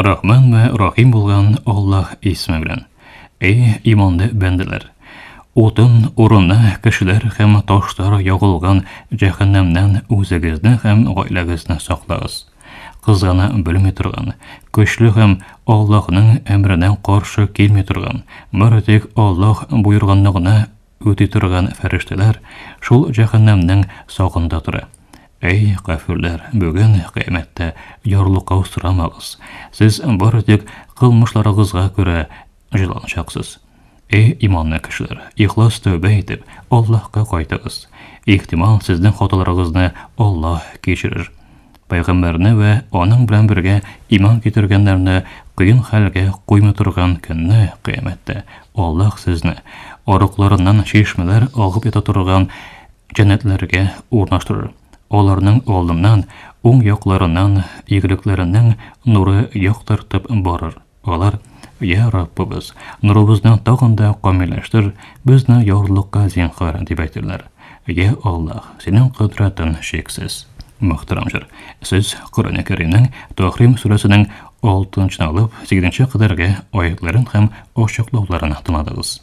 Рахман вә Рахим булган Аллаһ исеме белән. Эй, иманлы бәндәләр! Утын урыны кешеләр һәм ташлар ягылган җәһәннәмнән үзегезне һәм гаиләгезне саклагыз. Кызгана белми торган, көчле һәм Аллаһның әмренә каршы килми торган, бары тик Аллаһ боергынны гына Үти торган фәрештәләр шул җәһәннәмнең сагында тора. Әй, кафирләр, бүген кыямәттә ярлыкау сорамагыз. Сез бары тик кылмышларыгызга күрә җыланачаксыз. Эй, иманлы кешеләр, ихлас тәүбә итеп, Аллаһка кайтыгыз. Ихтимал, сезнең хаталарыгызны Аллаһ кичерер. Пәйгамбәрне вә аның белән бергә иман китергәннәрне кыен хәлгә куймый торган көнне, кыямәттә, Аллаһ сезне арыкларыннан чишмәләр агып ята торган җәннәтләргә урнаштырыр. Аларның алдыннан, уң якларыннан игелекләренең нуры яктыртып барыр. Алар, Я Раббыбыз, нурыбызны тагын да камилләштер, безне ярлыкка зинхар, дип әйтерләр. Я Аллаһ, синең кодрәтең чиксез. Мөхтәрәм җыр. Сез Коръәне Кәримнең Тахрим сүрәсенең 6 нчы алып 8 нче кадәрге аятларын һәм ачыклауларын тыңладыгыз.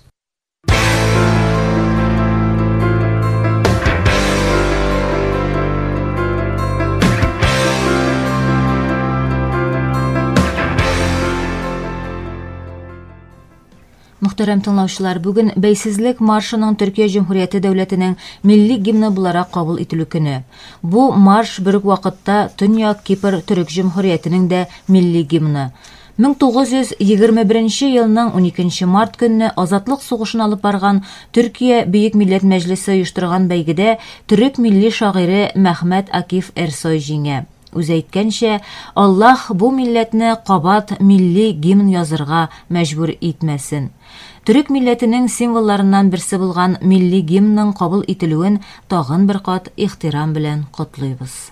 Мөхтәрәм тыңлаучылар, бүген бәйсезлек маршының Төркия Җөмһүрияте дәүләтенең милли гимны буларак кабул ителү көне. Бу марш бер үк вакытта Төньяк Кипр Төрек Җөмһүриятенең дә милли гимны. 1921 елның 12 март көнне азатлык сугышын алып барган Төркия Бөек Милләт Мәҗлесе оештырган бәйгедә төрек милли шагыйре Мәхмәт Акиф Эрсой җиңә. Үзе әйткәнчә, Аллаһ бу милләтне кабат милли гимн язырга мәҗбүр итмәсен. Төрек милләтенең символларыннан берсе булган милли гимнның кабул ителүен тагын бер кат ихтирам белән котлыйбыз.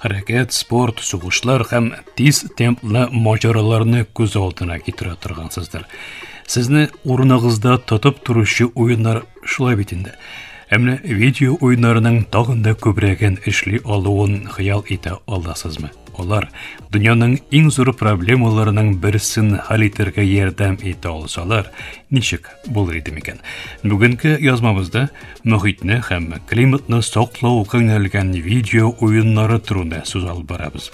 Хәрәкәт, спорт, сугышлар һәм тиз темплы маҗараларны күз алдына китерә торган сездер. Сезне урыныгызда тотып торучы уеннар шулай бит инде. Ә менә видео уеннарының тагын да күбрәген эшли алуын хыял итә аласызмы? Алар дөньяның иң зур проблемаларының берсен хәл итәргә ярдәм итә алсалар, ничек булыр иде микән? Бүгенге язмабызда мохитне һәм климатны саклау күңелгән видео уеннары турында сүз алып барабыз.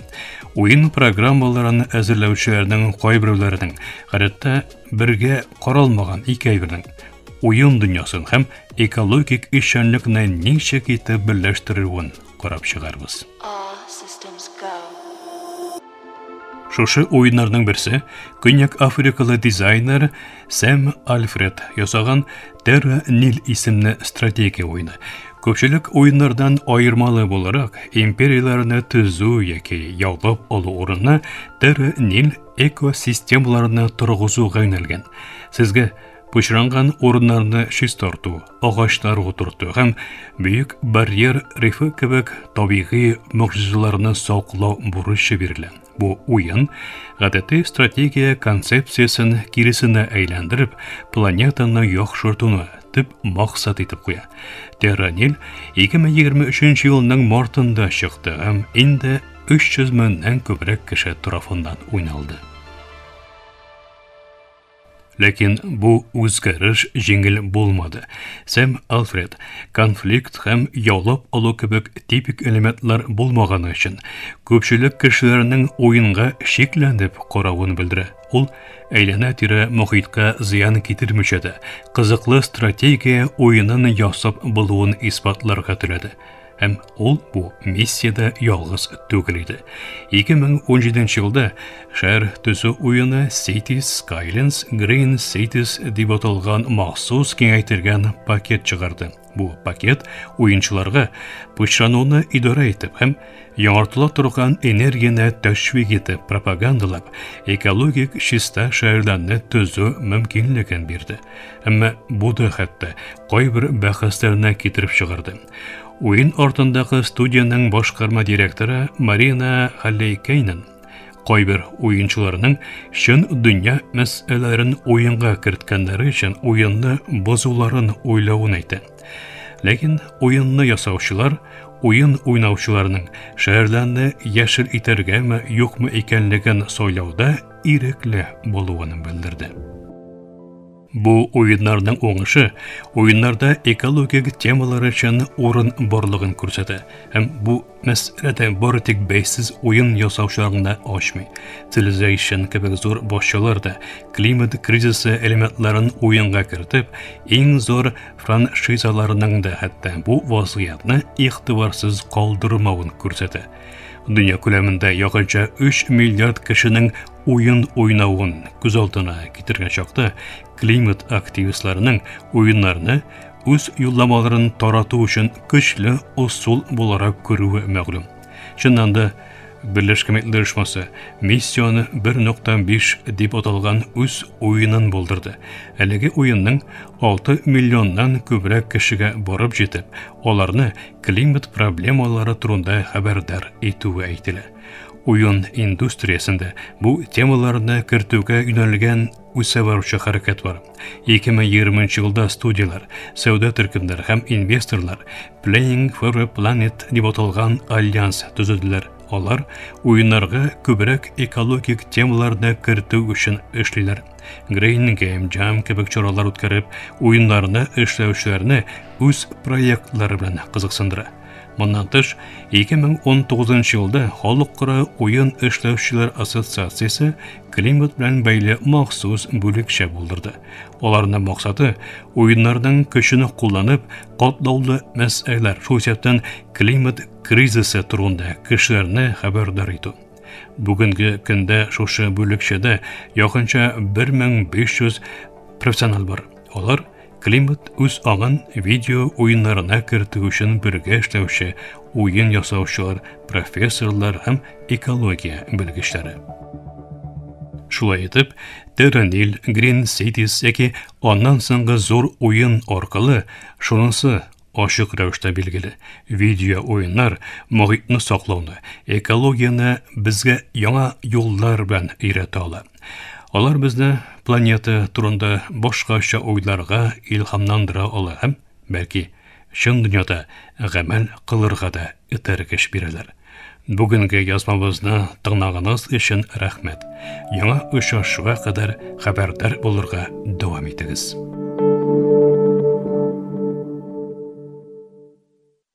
Уен программаларын әзерләүчеләрнең кайберләренең, гадәттә бергә каралмаган икәйбернең уен дөньясын һәм экологик эшчәнлекне ничек итеп берләштерүен карап чыгарбыз. Шушы уеннарның берсе Көньяк Африкалы дизайнер Сэм Альфред ясаган Terra Nil исемле стратегия уйны. Күпчелек уеннардан аермалы буларак, империяләрне төзү яки яулап алу урынына Terra Nil экосистемаларны торгызуга юнәлгән. Сезгә пычранган урыннарны чистарту, агачлар утырту һәм бөек барьер рифы кебек табигый могҗизаларны саклау бурычы бирелә. Бу уен гадәти стратегия концепциясен киресенә әйләндереп, планетаны яхшыртуны төп максат итеп куя. Терранил 2023 елның мартында чыкты һәм инде 300 меңнән күбрәк кеше тарафыннан уйналды. Ләкин бу үзгәреш җиңел булмады. Сэм Альфред конфликт һәм яулап алу кебек типик элементлар булмаганы өчен күпчелек кешеләрнең уенга шикләнеп каравын белдерә. Ул әйләнә-тирә мохиткә зыян китермичә дә, кызыклы стратегия уенын ясап булуын исбатларга теләде. Һәм ул бу миссиядә ялгыз түгел иде. 2017 елда шәһәр төзү уены Cities Skylines Green Cities дип аталган махсус киңәйтелгән пакет чыгарды. Бу пакет уенчыларга пычрануны идарә итеп һәм яңартыла торган энергияне тәшвик итеп пропагандалап, экологик чиста шәһәрләрне төзү мөмкинлеген бирде. Әмма бу да хәтта кайбер бәхәсләренә китереп чыгарды. Уен артындагы студиянең башкарма директоры Марина Халлейкейнен кайбер уенчыларның чын дөнья мәсьәләләрен уенга керткәннәре өчен уенны бозуларын уйлавын әйтә. Ләкин уенны ясаучылар уен уйнаучыларның шәһәрләрне яшел итәргәме, юкмы икәнлеген сайлауда ирекле булуын белдерде. Бу уеннарның уңышы уеннарда экологик темалар өчен урын барлыгын күрсәтә. Һәм бу мәсьәләдә бары тик бәйсез уен ясаучыларны да ачмый. Civilization кебек зур башчылар да климат кризисы элементларын уенга кертеп, иң зур франшизаларының да хәтта бу вазгыятьне игътибарсыз калдырмавын күрсәтә. Дөнья күләмендә якынча 3 миллиард кешенең уен уйнавын күз алдына китергән чакта климат активистларының уеннарны үз юлламаларын тарату өчен көчле усул буларак күрүе мәгълүм. Чыннан да Берләшкән Милләтләр Оешмасы миссияне 1.5 дип аталган үз уенын булдырды. Әлеге уенның 6 миллионнан күбрәк кешегә барып җитеп, аларны климат проблемалары турында хәбәрдар итүе әйтелә. Уен индустриясендә бу темаларны кертүгә юнәлгән үсә баручы хәрәкәт бар. 2020 елда студияләр, сәүдә төркемнәре һәм инвесторлар Playing for a Planet дип аталган альянс төзеделәр. Алар уеннарга күбрәк экологик темаларны кертү өчен эшлиләр. Green Game Jam кебек чаралар үткәреп, уеннарны эшләүчеләрне үз проектлары белән кызыксындыра. Моннан тыш, 2019 елда Халыкара уен эшләүчеләр ассоциациясе климат белән бәйле махсус бүлекчә булдырды. Аларның максаты уеннарның көчен кулланып, катлаулы мәсьәләләр, шул исәптән климат кризисы турында кешеләрне хәбәрдар итү. Бүгенге көндә шушы бүлекчәдә якынча 1500 профессионал бар. Алар Климат үз агын видео уеннарына кертү өчен бергә эшләүче уен ясаучылар, профессорлар һәм экология белгечләре. Шулай итеп, Terranil, Green Cities яки аннан соңгы зур уен аркылы шунысы ашык рәвештә билгеле. Видео уеннар мохитне саклауны, экологияне безгә яңа юллар белән өйрәтә ала. Алар безне планета турында башкача уйларга илһамландыра ала һәм, бәлки, чын дөньяда гамәл кылырга да этәргеч бирәләр. Бүгенге язмабызны тыңлаганыгыз өчен рәхмәт. Яңа очрашуга кадәр хәбәрдар булырга дәвам итегез.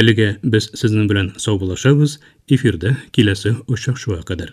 Әлегә без сезнең белән саубуллашабыз, эфирда киләсе очрашуга кадәр.